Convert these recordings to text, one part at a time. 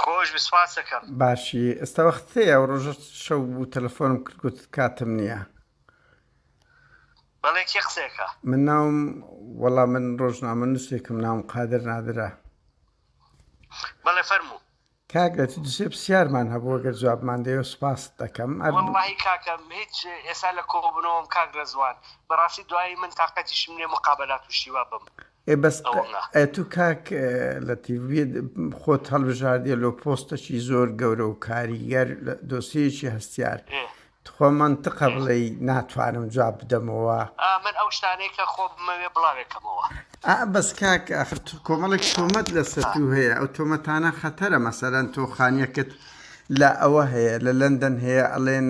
خۆش بی سپاس دەکەم. باشی ئێستا وەختەیە ئەو ڕۆژە شەو بوو تەلەفۆنم کرد گوت کاتم نییە بەڵێ کێ قسەکە من ناوم وەڵا من ڕۆژنامە نووسێکم ناوم قادر نادرا بەڵێ فەرموو کاگەت دوسێ پرسیارمان هەبوو گەر جوابمان دەیە سپاس دەکەم ئەرماهی کاکەم هیچ ئێستا لە کۆبنەوەم کاک ڕێزوان بەڕاستی دوایی من تااقەتیشم لێ مقابلات و شیوا بم ئێ بەس ئەوە تو کاک لە تیڤێت خۆت هەڵبژاردیە لۆ پۆستەکی زۆر گەورە و کاریگەر دۆسیەکی هەستیار تخوا منتقە بڵێ ناتوانم جواب بدەمەوە من ئەو شتانەی کە خۆمەوێ بڵاوێکەمەوە ئا بەس کاک ئەخر کۆمەڵێک شۆمەت لەسەر تو هەیە ئەو تۆمەتانە خەتەرە مەسەرەن تۆخانیەکەت لە ئەوە هەیە لە لەندەن هەیە ئەڵێن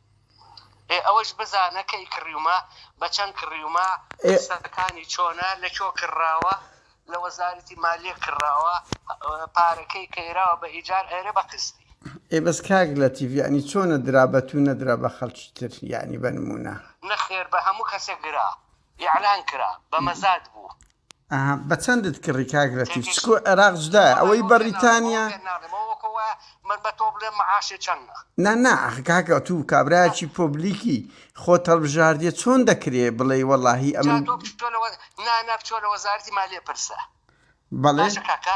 ئێ ئەوەش بزانە کەی کڕیومە بە چەند کڕیومە قسەکانی چۆنە لە کۆ کڕراوە لە وەزارەتی مالیە کڕراوە پارەکەی کەیراوە بە ئیجار ئەرێ بە قستی ئێ بەس کاک لە تیڤیانی چۆنە درا بە تو نەدرا بە خەڵکی تر یانی بەنمونە نەخێر بە هەموو کەسێک گرا. ئیعلان کرا بە مەزاد بوو. ئەها بە چەندت کڕی کاک لەتیف چکۆ عێراق جدایە ئەوەی بەڕیتانیا. من بە تۆ بلێم معاشێ چەنە. نا نا ئەخ کاکە توو کابرایەکی پۆبلیکی خۆت هەڵبژاردیە چۆن دەکرێ بڵێی وەڵاهی ئەمن. جا تۆ بچۆ لە وە نا نا بچۆ لە وەزارەتی مالیە پرسە. بەڵێ. باشە کاکە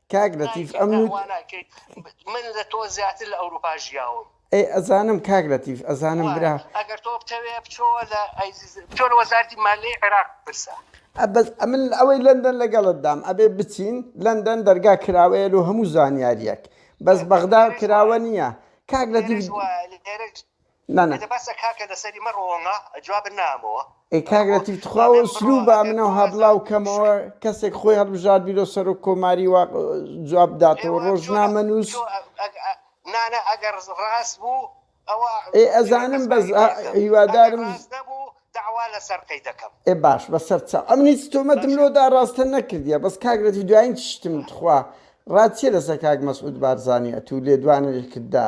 کاک لەتیف ئەم نوت من لە تۆ زیاتر لە ئەوروپا ژیاوم ئەی ئەزانم کاک لەتیف ئەزانم برا ئەگەر تۆ بتەوێ بچۆوە لە بچۆ لە وەزارتی مالی عێراق پرسە ئەبەز ئەمن ئەوەی لەندەن لەگەڵت دام ئەبێ بچین لەندەن دەرگا کراوەیە لۆ هەموو زانیاریەک بەس بەغدا کراوە نییە کاک لەتیف نا نا. بەسە کاکە لەسەری مەڕۆوەمە جوابت نامەوە. ئەی کاک لەتیف تخوا ئەو ئسلوبە ئەمن ئەوها بلاو کەمەوە کەسێک خۆی هەڵبژاردبیرۆ سەرۆک کۆماری وا جواب بداتەوە ڕۆژنامە نوس نا نا ئەگەر ڕاست بوو ئەوە ئێ ئەزانم بەس هیوادارم داوا لەسەر قەی دەکەم ئێ باش بەسەر چاو ئەمن هیچ تۆمەتم لۆ دا ڕاستە نەکردیە بەس کاک لەتیف دوایین چشتم تخوا ڕات چیە لەسەر کاک مەسعود بارزانی ئەتوو لێدوانێکت دا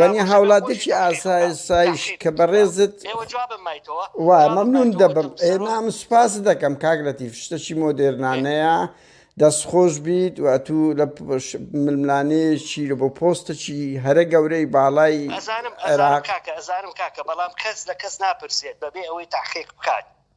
وەنی هاوڵاتێکی ئاسایسایش کە بەڕێزت وا مەمنون دەبم نام سوپاست دەکەم کاک لەتیف شتەکی مۆدێرنانەیە دەست خۆش بیت و ئەتوو لە ململانەیەکی لە بۆ پۆستەکی هەرە گەورەی باڵای ئەزانم ئەزانم کاکە ئەزانم کاکە بەڵام کەس لە کەس ناپرسێت بەبێ ئەوەی تاقیق بکات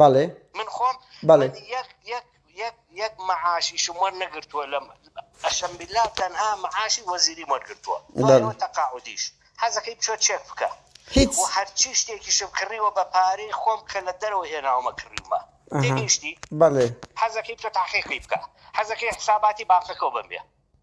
بەڵێ من خۆم بەڵێ یەک یەک یەک یەک معاشیشم وەرنەگرتووە لەم ئەشم بالله تەنها معاشی وەزیری وەرگرتووە دوایەوە تەقاعودیش حەزەکەی بچۆ چێک بکە هیچ و هەرچی شتێکیشم کڕیوە بە پارەی خۆم کە لە دەرەوە هێناومە کڕیومە تێگەیشتی بەڵێ حەزەکەی بچۆ تەحقیقی بکە حەزەکەی حساباتی بانقەکەو بەم بێ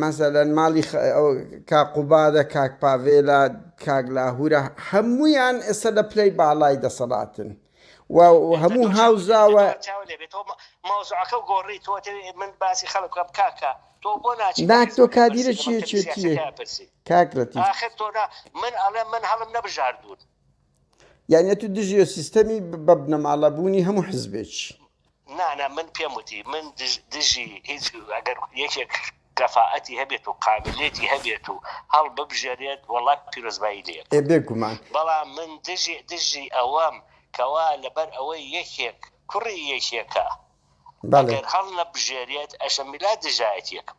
مەسەلەن ماڵی کاک قوبادە، کاک پاڤێلە، کاک لاهورە هەموویان ئێستا لە پلەی باڵای دەسەڵاتن و هەموو هاوزاوە تۆ کادیرە چێتیە کاکرەتی یانە تو دژێ سیستەمی بە بنەماڵە بوونی هەموو حزبێکی نا نا من پێم وتی من دژی هیچ ئەگەر یەکێک کەفائەتی هەبێت و قابلیەتی هەبێت و هەڵببژێرێت وەڵا پیرۆزبایی لێ ئەکەم ئێ بێگومان. بەڵام من دژی دژی ئەوەم کەوا لەبەر ئەوەی یەکێک کوڕی یەکێکە بەڵێ. ئەگەر هەڵنەبژێرێت ئەشم بلا دژایەتیەکم.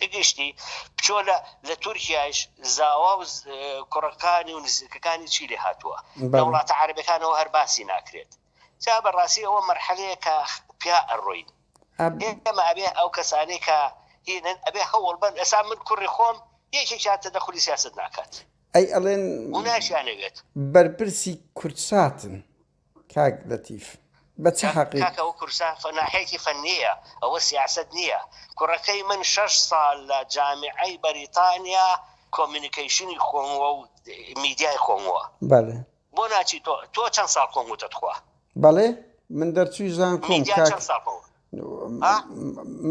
بگشتی بچۆ لە لە تورکیاش زاوا و کوڕەکانی و نزیکەکانی چی لێ هاتووە لە وڵاتە عربەکانەوە هەر باسی ناکرێت جا بەڕاستی ئەوە مەرحەلەیە کە پیا ئەڕۆین ئێمە ئەبێ ئەو کەسانەی کە هینن ئەبێ هەوڵ بن ئەسا من کوڕی خۆم یەکێکیان تە دەخلی سیاست ناکات ئەی ئەڵێن ناشیانەوێت بەرپرسی کوردساتن کاک لەتیف بە چ حەقیک. کاکە ئەوە کوردستان فەناحێکی فەنیە ئەوە سیاسەت نیە کوڕەکەی من شەش ساڵ لە جامیعەی بەریتانیا کۆمینیکەیشنی خۆموە و میدیای خۆموە بەلێ. بۆ ناچی تۆ تۆ چەن ساڵ کۆموتە تخوا. بەڵێ من دەرچووی زانکۆم کاک. میدیا چەن ساڵ کۆموت.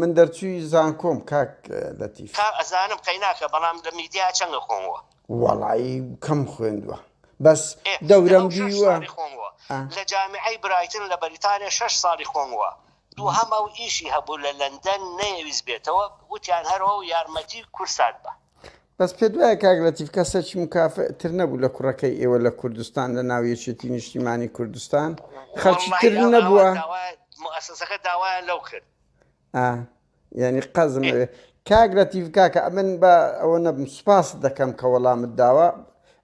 من دەرچوی زانکۆم کاک لەتیف کا ئەزانم قەیناکە بەڵام لە میدیا چەنگە خۆمەوە وەڵایی کەم خوێندوە بەس دەورم دیوە خۆمەوە لە جامیعی برایتن لە بەریتانیا شەش ساڵی خۆمەوە دووهەم ئەو ئیشی هەبوو لە لەندەن نەیەویست بێتەوە وتیان هەرەوە و یارمەتی کورسات بە بەس پێت وایە کاک لەتیف کەسەکی مکافئ تر نەبوو لە کوڕەکەی ئێوە لە کوردستان لە ناو یەکێتی نیشتیمانی کوردستان خەڵکی تر واللهی ئەو ئەوە نەبووە داوا مؤسسەکە داوایان لەو کرد ئا یعنی قەزم ئەوێ کاک لەتیف کاکە ئەمن بە ئەوە نەبم سوپاست دەکەم کە وەڵامت داوە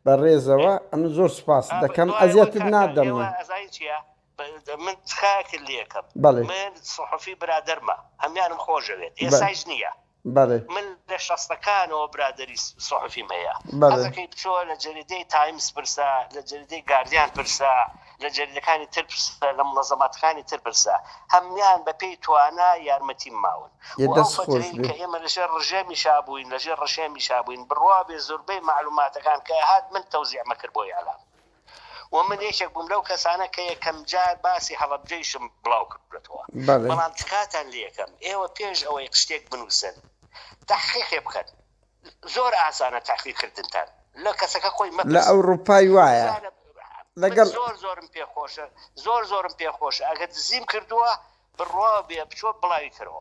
بە ڕێزەوە ئەمن زۆر سوپاست آه، دەکەم دۆی وە ئەزیەتت کاکە نادەم ئێوە من ئەزای چییە ب- من تخاکر لەکەم بەڵێ من صحفی برادەرمە هەموانم خۆشەوێت بە ئێسایش نییە بەڵێ. من لە شەستەکانەوە برادەری سوحفیم هەیە بەڵێ. حەزەکەی بچۆ لە جەریدەی تایمز پرسە لە جەریدەی گاردیان پرسە لە جەریدەکانی تر پرسە لە مونەزەماتەکانی تر پرسە هەموان بە پێی توانا یارمەتیم ماون یە و ئەو دەست خۆش فترەی بێ. کە ئێمە لە ژێر ڕژێمی شا بوین لە ژێر ڕژێمی شا بوین بڕوابێ زوربەی مەعلوماتەکان کە ئەهات من تەوزیعمەکرد بۆ ئیعلام. و من یەکێک بووم لەو کەسانە کە یەکەم جار باسی هەڵەبجەیشم بڵاو کردووەتەوە، بەڵام تکاتان لێکەم ئێوە پێش ئەوەی شتێک بنووسن تەحقیقێ بکەن، زۆر ئاسانە تەحقیق کردنتان لە کەسەکە خۆی مەپرسن. لە ئەوروپای وایە. من زۆر زۆرم پێ خۆشە، زۆر زۆرم پێ خۆشە ئەگەر دزیم کردووە بڕوا بێ بچۆ بڵاوی کەرەوە.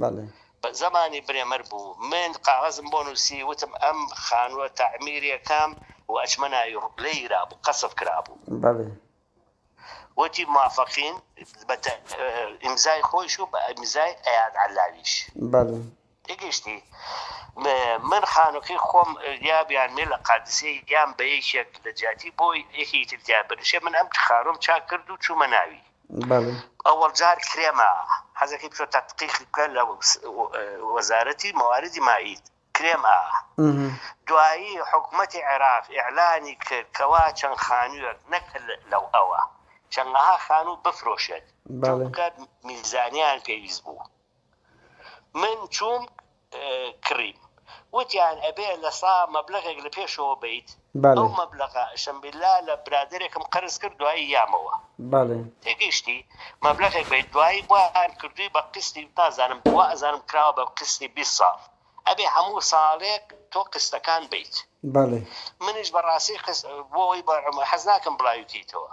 بەڵێ. بە زمانی برێمەر بوو. من قاغەزم بۆ نووسی، وتم ئەم خانووە تەعمیری ئەکەم و ئەچمە ناوی ڕوو. لێ یرابوو. قەسف کرابوو. بەڵێ. وتی موافقین، بە تە ئیمزای خۆیش و بە ئیمزای ئەیاد عەللاویش. بەڵێ. تێگەیشتی؟ من خانووەکەی خۆم یا بیانمێ لە قادسیە یان بە یەکێک لە جیاتی بۆ یەکێکی تر تیا بنشێ، من ئەم خانووەم چاک کرد و چوومە ناوی. ئەوەڵ جار کرێمە حەزەکەی بچۆ تەتقیقی بکە لە وەزارەتی مەواردی مائید کرێم ئا دوایی حکوومەتی عێراق ئیعلانی کرد کەوا چەند خانوویەک نەک لەو ئەوە چەندەها خانوو بفرۆشێت میزانیان پێویست بوو من چووم کڕیم وتیان ئەبێ لە سا مەبلەغێک لە پێشەوە بیت ئەو مەبلەغە شەمبیلا لە برادێکم قەرز کرد دوایی یامەوە تێگەیشتی مەبلەغێک بیت دوایی بۆیان کردووی بە قستی نازانم بۆ ئەزانم کراوە بە قستی بی ساڵ ئەبێ هەموو ساڵێک تۆ قستەکان بیت منیش بەڕاستی بۆی حەز ناکەم بڵاوی کەیتەوە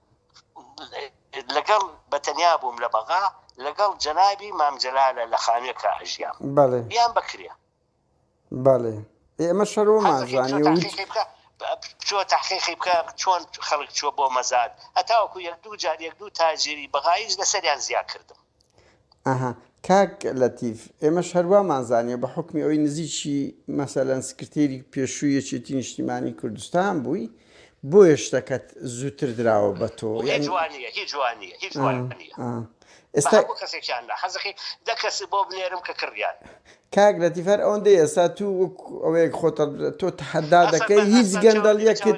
لەگەڵ بەتەنیا بووم لە بەغا لەگەڵ جەنابی مام جەلالە لە خانوێکا ئەژیام بەڵێ یان بەکرێ بەڵێ ئێمە شەرۆمان زانانی و بچۆ تحقیقی بکە چۆن خەڵک چوە بۆ مەزاد هەتاوەکو یەک دوو جار یەک دوو تاجری بەغایش لەسەریان زیا کردم ئەها کاک لەتیف ئێمەش هەر وامان زانیە بە حوکمی ئەوەی نزیکی مەسەلەن سکرتێری پێشووی یەکێتی نیشتیمانی کوردستان بووی بۆیە شتەکەت زووتر دراوە بە تۆ ئێستا هەموو کەسێکیان نا حەزەکەی دە کەس بۆ بنێرم کە کڕیان. کاک لەتیف هەر ئەوەندەی ئێستا تو وەک ئەوەیەک خۆت تۆ تەحەدا دەکەی هیچ گەندەڵیەکت.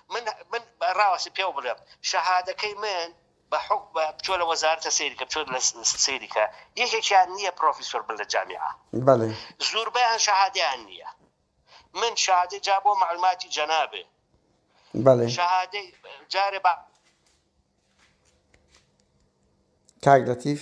من من ڕاوەسی پێو بڵێم شەهادەکەی من بە حک بە بچۆ لە وەزارتە سەیرکە بچۆ لە سەیرکە یەکێکیان نییە پرۆفیسۆر بن لە جامیعە زۆربەیان شەهادیان نییە من شادی جا بۆ معلوماتی جەنابێ شەهادەی جارێ بە کاک لەتیف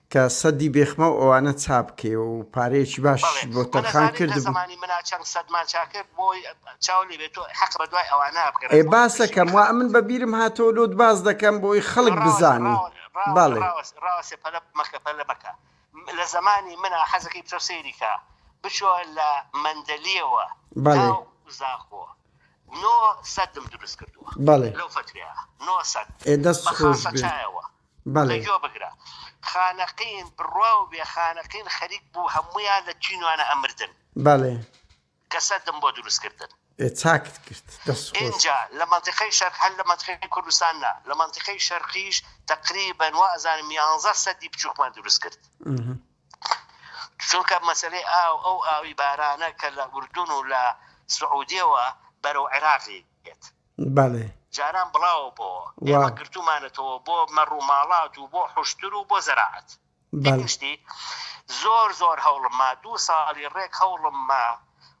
کە سەدی بێخمە و ئەوانە چاپ کەی و پارەیەکی باش بۆ تەرخان کرد بوو. ئێ باس ئەکەم وا ئەمن بە بیرم هاتەوە لۆت باس دەکەم بۆی خەڵک بزانی. بەڵێ. بەڵێ. گوێ بگرە خانەقین بڕوا و بێ خانەقین خەریک بوو هەموویان لە چینوانە ئەمردن. بەڵێ. کە سەدم بۆ دروست کردن. ئێ چاکت کرد دەست خۆش. ئینجا لە مەنتیقەی شەرق هەر لە مەنتیقەی کوردستان نا لە مەنتیقەی شەرقیش تەقریبەن وا ئەزانم یانزە سەدی بچووکمان دروست کرد. چونکە مەسەلەی ئاو ئەو ئاوی بارانە کە لە ئوردون و لە سعودیەوە بەرەو عێراقی بێت. بەڵێ. جاران بڵاوە بۆوە. وا. ئێمە گرتوومانەتەوە بۆ مەڕ و ماڵات و بۆ حوشتر و بۆ زەراعەت. بەڵێ. گشتی زۆر زۆر هەوڵم ما، دوو ساڵی ڕێک هەوڵم ما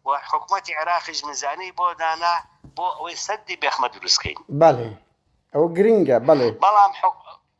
و حکومەتی عێراقیش میزانیەی بۆ دانا بۆ ئەوەی سەدی بێخمە دروست کەین. بەڵێ. ئەوە گرینگە. بەڵێ. بەڵام حکو.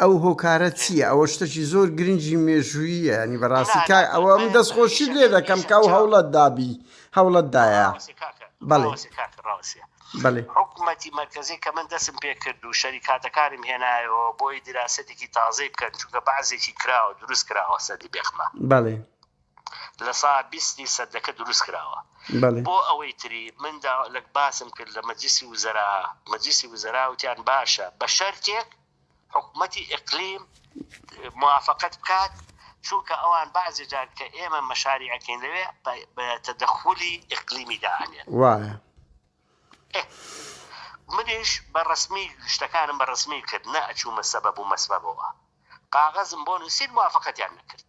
ئەو هۆکارە چییە ئەوە شتەکی زۆر گرنگی مێژووییە ینی بەڕاستی کا ئەوە من دەست خۆشی لێ دەکەم کە ئەو هەوڵەت دابی هەوڵەت دایە بەڵێ بەڵێ حکوومەتی مەرکزی کە من دەستم پێ کرد و شەریکاتەکانم هێنایەوە بۆی دیراسەتێکی تازەی بکەن چونکە بەعزێکی کراوە دروست کراوە سەدی بێخمە بەڵێ لە سا بیستی سەدەکە دروست کراوە بۆ ئەوەی تری من لەک باسم کرد لە مەجلیسی وزەرا مەجلیسی وزەرا وتیان باشە بە شەرتێک حکومەتی ئقلیم موافقت بکات چونکە ئەوان بازی جار کە ئێمە مەشاری ئەکەین لەوێ بە تەدەخولی ئقلیمی داانێن وایە منیش بە ڕسمی شتەکانم بە ڕسمی کرد نە ئەچوومە سەبەب و مەسبەبەوە قاغەزم بۆ نووسین موافقەتیان نەکرد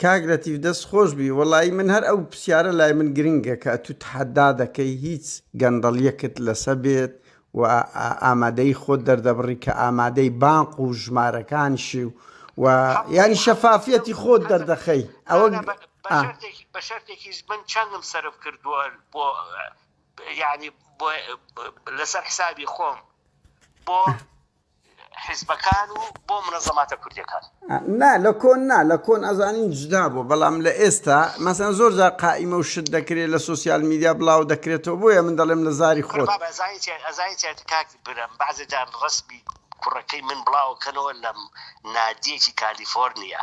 کاک لەتیف دەست خۆش بی وەڵایی من هەر ئەو پسیارە لای من گرنگە کە ئەتو تەحەدا دەکەی هیچ گەندەڵیەکت لەسە بێت و ئامادەیی خۆت دەردەبڕی کە ئامادەی بانق و ژمارەکانشی و و یانی شەفافیەتی خۆت دەردەخەی ئەوە بە شەرتێکیش من چەندم سەرف کردووە بۆ یعنی لەسەر حسابی خۆم بۆ حیزبەکان و بۆ منەزەماتە کوردیەکان. نا لە کۆن نا لە کۆن ئەزانین جودا بوو بەڵام لە ئێستا مەسەن زۆر جار قائیمە و شت دەکرێت لە سۆسیال میدیا بڵاو دەکرێتەوە بۆیە من دەڵێم لە زاری خۆت. بابە ئەزانی چیە ئەزانی چیە کاک برم بەعزێ جار ڕەسمی کوڕەکەی من بڵاوەکەنەوە لە نادیەکی کالیفۆرنیا.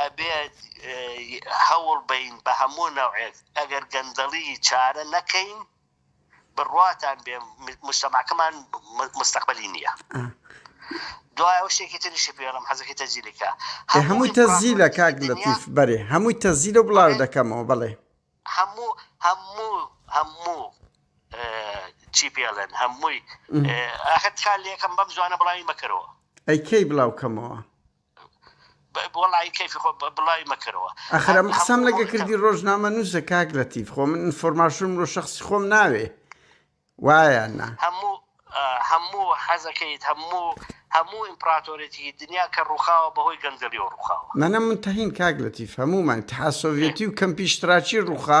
ئەبێ هەوڵ بەین بە هەموو نەوعێک ئەگەر گەندەڵی چارە نەکەین بڕواتان بێ مشتەماکەمان مستەقبەلی نییە دوای ئەو شتێکی تریشی پێڵم حەزەکەی تەجیلەکە هەمووی تەزیلە کاک لە تیف بەرێ هەمووی تەزیلە بڵاو دەکەمەوە بڵێ هەموو هەموو هەموو چی پێڵێن هەمووی ئاخر کار لەکەم بەم جوانە بڵاوی مەکەرەوە ئەی کەی بڵاو کەمەوە ئەخر ئەم قسەم لەگە کردی ڕۆژنامە نوسە کاک لەتیف خۆ من ئینفۆرماشنم لۆ شەخسی خۆم ناوێ وایە نا. منم متهیم کاک لەتیف هەموومان ئیتحاد سۆڤیەتی و کەمپی ئیشتراکی ڕووخا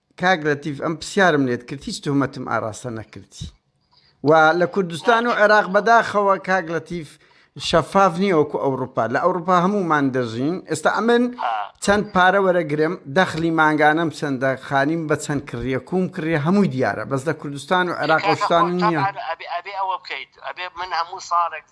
کاک لەتیف ئەم پرسیارم لێت کرد هیچ تهمەتم ئاراستە نەکردی و لە کوردستان و عێراق بەداخەوە کاک لەتیف شەفاف نییە وەکو ئەوروپا لە ئەوروپا هەمومان دەژین ئێستا ئەمن چەند پارە وەرەگرم دەخلی مانگانەم چەندە خانیم بە چەند کڕیە کوم کڕیە هەمووی دیارە بەس لە کوردستان و عێراقستان نییە ئەبێ ئەوە بکەیت ئەبێ من هەموو ساڵێک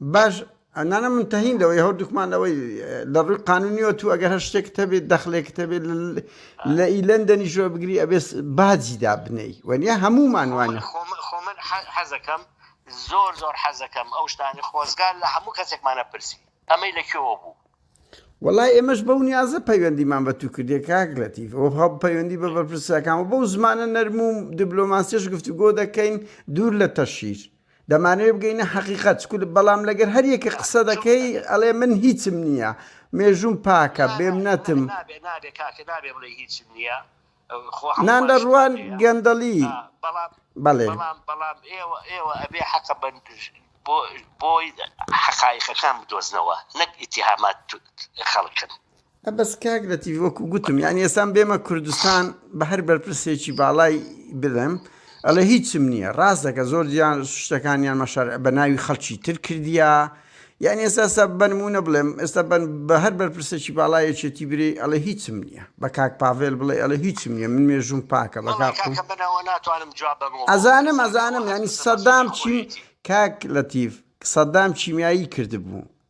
باش ئەنانە من تەهین لەوەی هەردووکمان لەوەی لە ڕووی قانونیەوە تو ئەگەر هەر شتێکت هەبێت دەخلێکت هەبێت لە ئیلەن دەنیشوە بگری ئەبێت باجی دابنەی وەنیە هەمومان وانە خۆمن حەزەکەم زۆر زۆر حەزەکەم ئەو شتانی خۆزگار لە هەموو کەسێکمانە پرسی ئەمەی لە کوێوە بوو وڵای ئێمەش بەو نیازە پەیوەندیمان بە تو کردێ کاک لەتیف ئەو هەڵ پەیوەندی بە بەرپرسەکان و بەو زمانە نەرموم دیبلۆماسیش گفتوگۆ دەکەین دوور لە تەشیر دەمانەوێ بگەینە حەقیقەت چکو بەڵام لەگەر هەر یەکێ قسە دەکەی ئەڵێ من هیچم نییە مێژووم پاکە بێمنەتم. نابێ نابێ کاکە نابێ بڵێی هیچم نییە خۆ هەموومانیش نان لە ڕوان نابێ گەندەڵی ئا بەڵام بەڵێ. بەڵام بەڵام ئێوە ئێوە ئەبێ حەقە بەن بۆ بۆی حەقایقەکان بدۆزنەوە نەک ئیتیهامات خەڵکن. ە بەس کاک لەتیف وەکو گوتم یانی ئێسان بێمە کوردستان بە هەر بەرپرسێکی باڵای بڵێم ئەڵێ هیچم نییە ڕاست دەکە زۆر جیان شتەکانیان مەشار بە ناوی خەڵکی تر کردیا یان ئێستا سە بنمونە بڵێم ئێستا بن بە هەر بەرپرسێکی باڵایەکێتی برێ ئەڵێ هیچم نییە بە کاک پاڤێل بڵێ ئەڵێ هیچم نییە من مێژوم پاکە بە ئەزانم ئەزانم ینی سەدام چیم کاک لەتیف سەدام چیمیایی کردبوو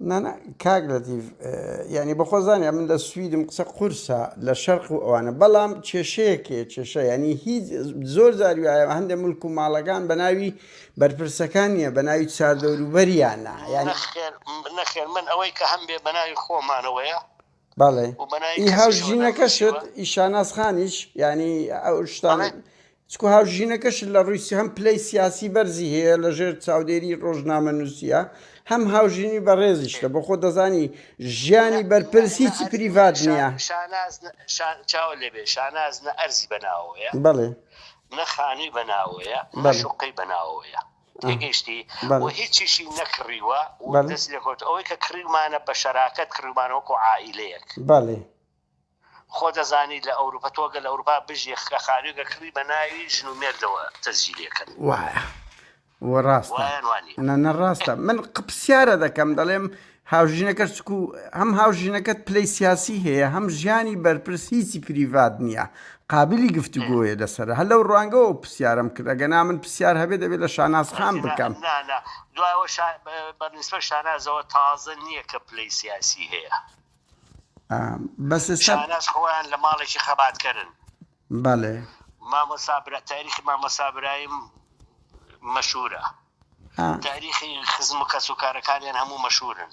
نا نا کاک لەتیف یانی بەخۆ زانیا من لە سویدم قسە قورسە لە شەرق و ئەوانە بەڵام کێشەیەکێ کێشە ینی هیچ زۆر زاری وایە هەندێک ملک و ماڵەکان بە ناوی بەرپرسەکان نیە بە ناوی چاردەوروبەریانە یان نەخێر من ئەوەی کە هەم بێ بە ناوی خۆمانەوەیە بەڵێ و بەنای ئی کەسیش هاو وە ژینەکەشت نەنووسیوە. ئی شاناز خانیش یانی ئەو شتان بەڵێ. چکو هاو ژینەکەشت لە ڕووی سی هەم پلەی سیاسی بەرزی هەیە لە ژێر چاودێری ڕۆژنامەنووسیە هەم هاو ژینی بەڕێزیشتە بە خۆ دەزانی ژیانی بەرپرس هیچی پریڤات نییە شا- شاناز نە- شا- چاوە لێبێ شاناز نە ئەرزی بەناوەیە بەڵێ نە خانووی بەناوەیە نە بەڵێ. شوقەی بەناوەیە تێگەیشتی و هیچیشی نەکڕیوە و دەست لێکەوتووە، ئەوەی کە کڕیومانە بە شەراکەت کڕیومانە وەکو عائیلەیەک، خۆ دەزانی لە ئەوروپا تۆ گەر لە ئەوروپا بژی لە خانوویەکە کڕی بە ناوی ژن و مێردەوە تەسجیلی ئەکەن. وایە وایە یان وا نییە؟ وایە نە ڕاستە. نە نە ڕاستە من پرسیارە دەکەم دەڵێم هاوژینەکەش چکو هەم هاوژینەکەت پلەی سیاسی هەیە هەم ژیانی بەرپرس هیچی پریڤات نییە قابلی گفتوگۆیە لەسەر هەر لەو ڕوانگەوە پرسیارم کرد ئەگە نامن پرسیار هەبێت دەبێت لە شاناز خان بکەم دوایەوە بەنسبە شانازەوە تازە نییە کە پلەی سیاسی هەیە بەس شاناز خۆیان لە ماڵێکی خەباتکەرن بەڵێ. مامۆستا برا تاریخی مامۆستا برایم مەشهورە تاریخی خزم و کەس و کارەکانیان هەموو مەشهورن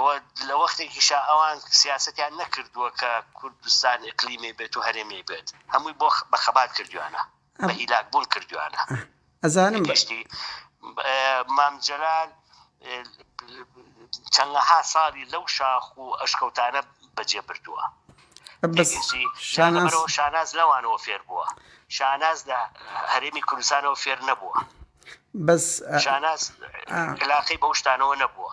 و لە وەختێکیشا ئەوان سیاسەتیان نەکردووە کە کوردستان ئقلیمی بێت و هەرێمی بێت هەمووی بۆ بە خەبات کردویانە بە هیلاک بوون کردویانە ئەزانم. گشتی مام جەلال چەندەها ساڵی لەو شاخ و ئەشکەوتانە بەجێ بردووە. بەس تێگەیشتی؟ جا شاناز لەبەرەوە شاناز لەوانەوە فێر بووە. شاناز لە هەرێمی کوردستانەوە فێر نەبووە. بەس شاناز ئا علاقەی بەو شتانەوە نەبووە.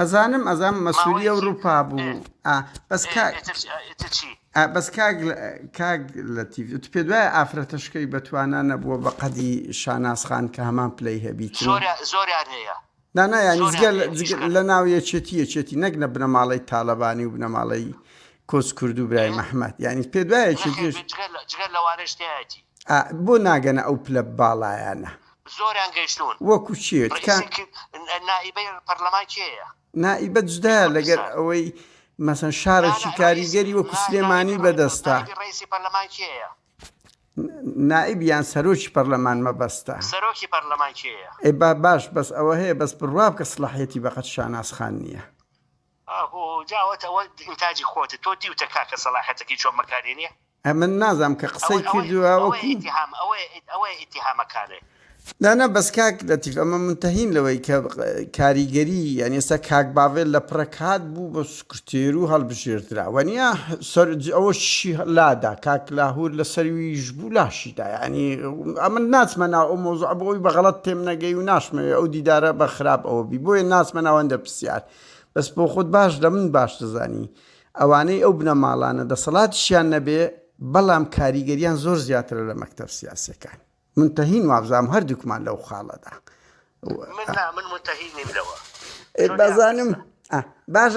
ئەزانم ئەزانم مەسولی ئەوروپا بوو ئا بەس کاک ئیتر چی ئا بەس کاک کاک لەتیف ئیتر پێت وایە ئافرەتە شکەوی بە توانا نەبووە بە قەدی شاناز خان کە هەمان پلەی هەبیت زۆر زۆریان هەیە نا نا یانی جگە لە جگە لە ناو یەکێتی یەکێتی نەک لە بنەماڵەی تالەبانی و بنەماڵەی کۆچ کرد و برای محمد یانی پێت وایە یەکێتیش جگە لە جگە لەوانەش تیایەتی ئا بۆ ناگەنە ئەو پلە باڵایانە زۆریان گەیشتوون. وەکو کێ؟ ڕەئیسی ک نائیبەی پەرلەمان کێیە؟ نائیبە جدایە لەگەر ئەوەی مەسەن شارەکی کاریگەری وەکو سلێمانی بەدەستە. نائیبی ڕەئیسی پەرلەمان کێیە؟ نائیب یان سەرۆکی پەرلەمان مەبەستە. سەرۆکی پەرلەمان کێیە؟ ئێ با باش بەس ئەوە هەیە بەس بڕوابکە سڵاحیەتی بەقەد شاناز خان نیە. ئاهو جاوت ئەوە ئینتاجی خۆتە تۆ دیوتە کاکە سەڵاحەتەکەی چۆن بەکارێنیە. ئەمن نازام کە قسەی کردوە وەکو. ئەوەیە ئیتیهامەکانێ. نا نا بەس کاک لەتیف ئەمە مونتەهین لەوەی کە کاریگەری یانی ئێستا کاک باڤێل لە پڕەکات بوو بە سکرتێر و هەڵبژێردرا وەنیا سەر ئەوەشی لادا کاک لاهور لە سەرویش بوو لاشیدا یانی ئەمن ناچمە ناو ئەو مۆزوعە بۆ ئەوی بە غەڵەت تێم نەگەی و ناشمەوێ ئەو دیدارە بە خراپ ئەوە بی بۆیە ناچمە ناو ئەندە پرسیار بەس بۆ خۆت باش لە من باش دەزانی ئەوانەی ئەو بنەماڵانە دەسەڵاتیشیان نەبێ بەڵام کاریگەریان زۆر زیاترە لە مەکتەب سیاسەکان من تەهین وابزانام هەردووکمان لەو خاڵەدا من نا من متهین نیم لەوە بازانم باشە